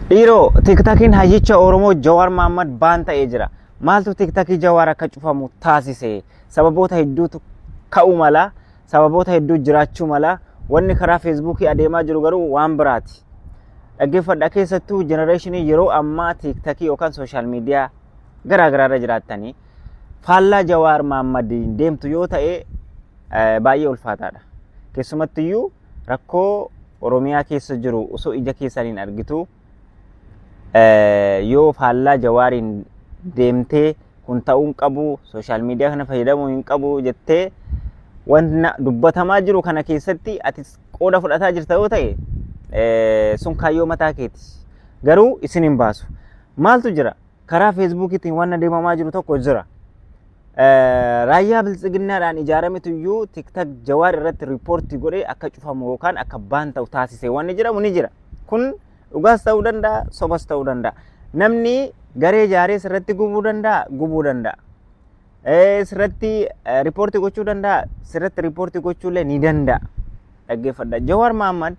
Dhiiroo tiktakiin hayyicha Oromoo Jawaar Maammad baan ta'ee jira. Maaltu tiktakii Jawaar akka cufamu taasise? Sababoota hedduutu ka'uu mala. Sababoota hedduu jiraachuu mala. Wanni karaa feesbuukii adeemaa jiru garuu waan biraati. Dhaggeeffadha keessattuu jenereeshinii yeroo ammaa tiktakii yookaan sooshaal miidiyaa garaa garaarra jiraattanii faallaa Jawaar Maammadiin deemtu yoo ta'e baay'ee ulfaataadha. Keessumattiyyuu rakkoo Oromiyaa keessa jiru osoo ija keessaniin argitu yoo faallaa jawaariin deemtee kun ta'uu hin qabu sooshaal miidiyaa kana fayyadamuu hin qabu jettee wanna dubbatamaa jiru kana keessatti ati qooda fudhataa jirta yoo ta'e sun kaayyoo mataa keeti. Garuu isin hin baasu. Maaltu jira? karaa feesbuukiitiin waan adeemamaa jiru tokko jira. Raayyaa biltsiginnaadhaan ijaarametu iyyuu tiktak jawaar irratti riippoortii godhee akka cufamu yookaan akka baan ta'u taasise wanni jedhamu ni jira. Kun dhugaas ta'uu danda'a, sobas ta'uu danda'a. Namni garee ijaaree irratti gubuu danda'a, gubuu danda'a. Eh, sirratti eh, riippoortii gochuu danda'a sirratti riippoortii gochuullee ni danda'a dhaggeeffadha jawaar mahammad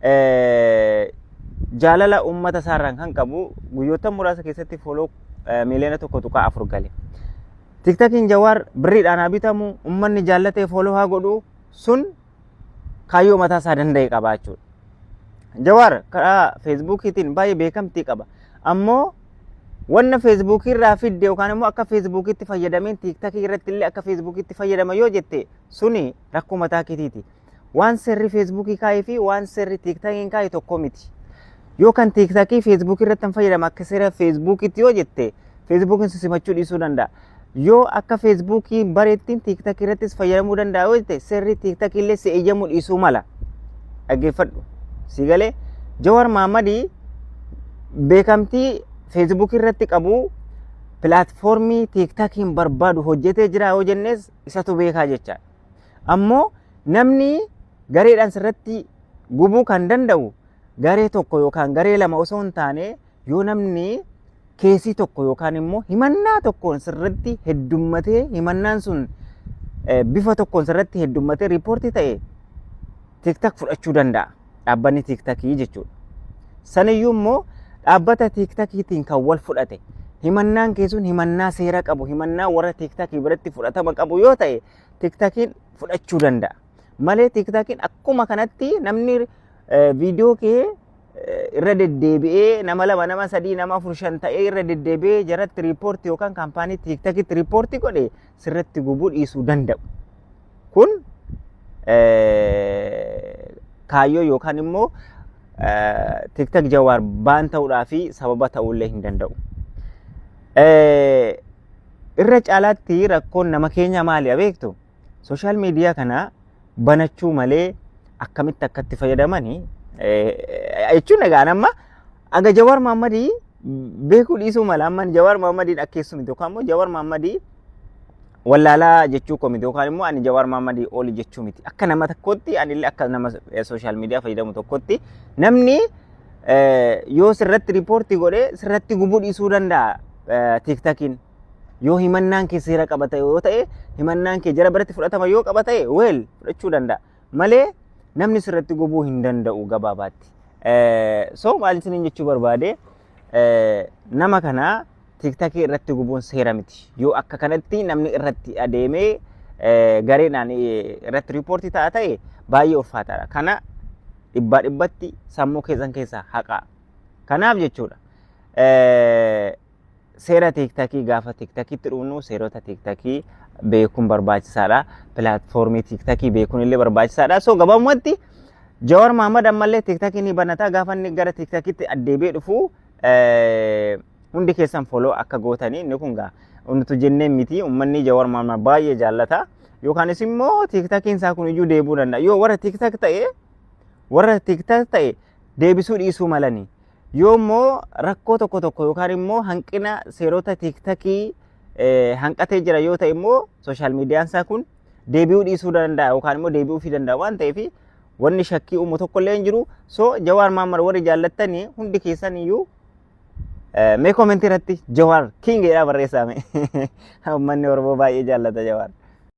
eh, jaalala uummata isaarraan kan qabu guyyoota muraasa keessatti fooloo eh, miiliyoona tokko tuqaa afur gale tiktakiin jawaar birriidhaan haa bitamu uummanni jaallatee fooloo haa godhu sun kaayyoo mataa isaa danda'e qaba jechuudha. Jawaar karaa feesbuukiitiin baay'ee beekamtii qaba. Ammoo wanna feesbuukii irraa fidde yookaan immoo akka feesbuukiitti fayyadameen tiiktakii irratti illee akka feesbuukiitti fayyadama yoo jette suni rakkoo mataa keetiiti. Waan seerri feesbuukii kaa'ee fi waan seerri tiiktakiin kaa'e tokko miti. Yoo kan tiiktakii feesbuukii irratti hin fayyadama akka seera feesbuukiitti yoo jette feesbuukiin si simachuu dhiisuu danda'a. Yoo akka feesbuukii bareettiin tiiktakii irrattis fayyadamuu danda'a yoo ta'e seerri tiiktakii illee si eeyyamuu dhiisuu mala. Dhaggeeffadhu. Si galee Jawar Maammadii beekamtii feesbuukii irratti qabu pilaatfoormii tiiktakiin barbaadu hojjetee jira yoo jennes isatu beekaa jecha. Ammoo namni gareedhaan sirratti gubuu kan danda'u garee tokko yookaan garee lama osoo hin taane Yoo namni keesii tokko yookaan immoo himannaa tokkoon sirratti heddummatee himannaan sun bifa tokkoon sirratti heddummatee riippoortii ta'e tiktak fudhachuu danda'a. Dhaabbanni tiktakii jechuudha. Saniyyuu immoo dhaabbata tiktakiitiin kan wal fudhate himannaan keessuun himannaa seera qabu himannaa warra tiktakii biratti fudhatama qabu yoo ta'e tiktakiin fudhachuu danda'a. Malee tiktaakiin akkuma kanatti namni eh, viidiyoo kee eh, irra deddeebi'ee nama lama nama sadii nama afur shan ta'ee irra deddeebi'ee jaratti riippoorti yookaan kaampaanii tiktaakitti riippoorti godhe sirratti gubuu dhiisuu danda'u. Kun eh, kaayyoo yookaan immoo eh, tiktak jawaar baan ta'uudhaa fi sababa ta'uullee hin danda'u. Eh, irra caalaatti rakkoon nama keenya maali beektu? Sooshaal miidiyaa kana banachuu malee akkamitti akkatti fayyadaman jechuun egaa amma aga Jawaar Maammadii beekuu dhiisuu mala amma Jawaar Maammadiin akkeessu miti yookaan immoo Jawaar Maammadii wallaalaa jechuu koo miti yookaan immoo ani Jawaar Maammadii oli jechuu miti akka nama tokkotti ani illee akka nama sooshaal miidiyaa fayyadamu tokkotti namni yoo sirratti riippoortii godhee sirratti gubuu dhiisuu danda'a tiiktakiin Yoo himannaan kee seera qaba ta'e yoo ta'e himannaan kee jara biratti fudhatama yoo qaba ta'e weel fudhachuu danda'a. Malee namni sirratti gobuu hin danda'u gabaabaatti. So maal isiniin jechuu barbaade nama kana tiiktakii irratti gubuun seera miti. Yoo akka kanatti namni irratti adeemee gareedhaan irratti riippoortii ta'a ta'e baay'ee ulfaataadha. Kana dhibbaa dhibbatti sammuu keessan keessaa haqaa. Kanaaf jechuudha. Seera tiiktakii gaafa tiiktakiitti dhufnu seerota tiiktakii beekuun barbaachisaadha. Pilaatfoormii tiiktakii beekuun illee barbaachisaadha. So gabaabumatti Jawar Mahammad ammallee tiiktakii ni banata gaafa inni gara tiiktakiitti addeebee dhufu hundi keessan foloo akka gootanii inni kun gaa nutu jennee miti uummanni Jawar Mahammad baay'ee jaallata. Yookaanis immoo tiiktakiin isaa kun iyyuu deebuu danda'a. Yoo warra tiiktak ta'e warra tiiktak ta'e deebisuu dhiisuu malanii. Yoo immoo rakkoo tokko tokko yookaan immoo hanqina seerota tiiktakii hanqatee jira yoo ta'e immoo sooshaal miidiyaan isaa kun deebi'uu dhiisuu danda'a yookaan immoo deebi'uu fi danda'a waan ta'eef wanni shakkii uumu tokko illee hin jiru. So Jawaar Mahammad warri jaallattanii hundi keessan iyyuu mee koomentii irratti Jawaar King jedhaa barreessaame. Uummanni Oromoo baay'ee jaallata Jawaar.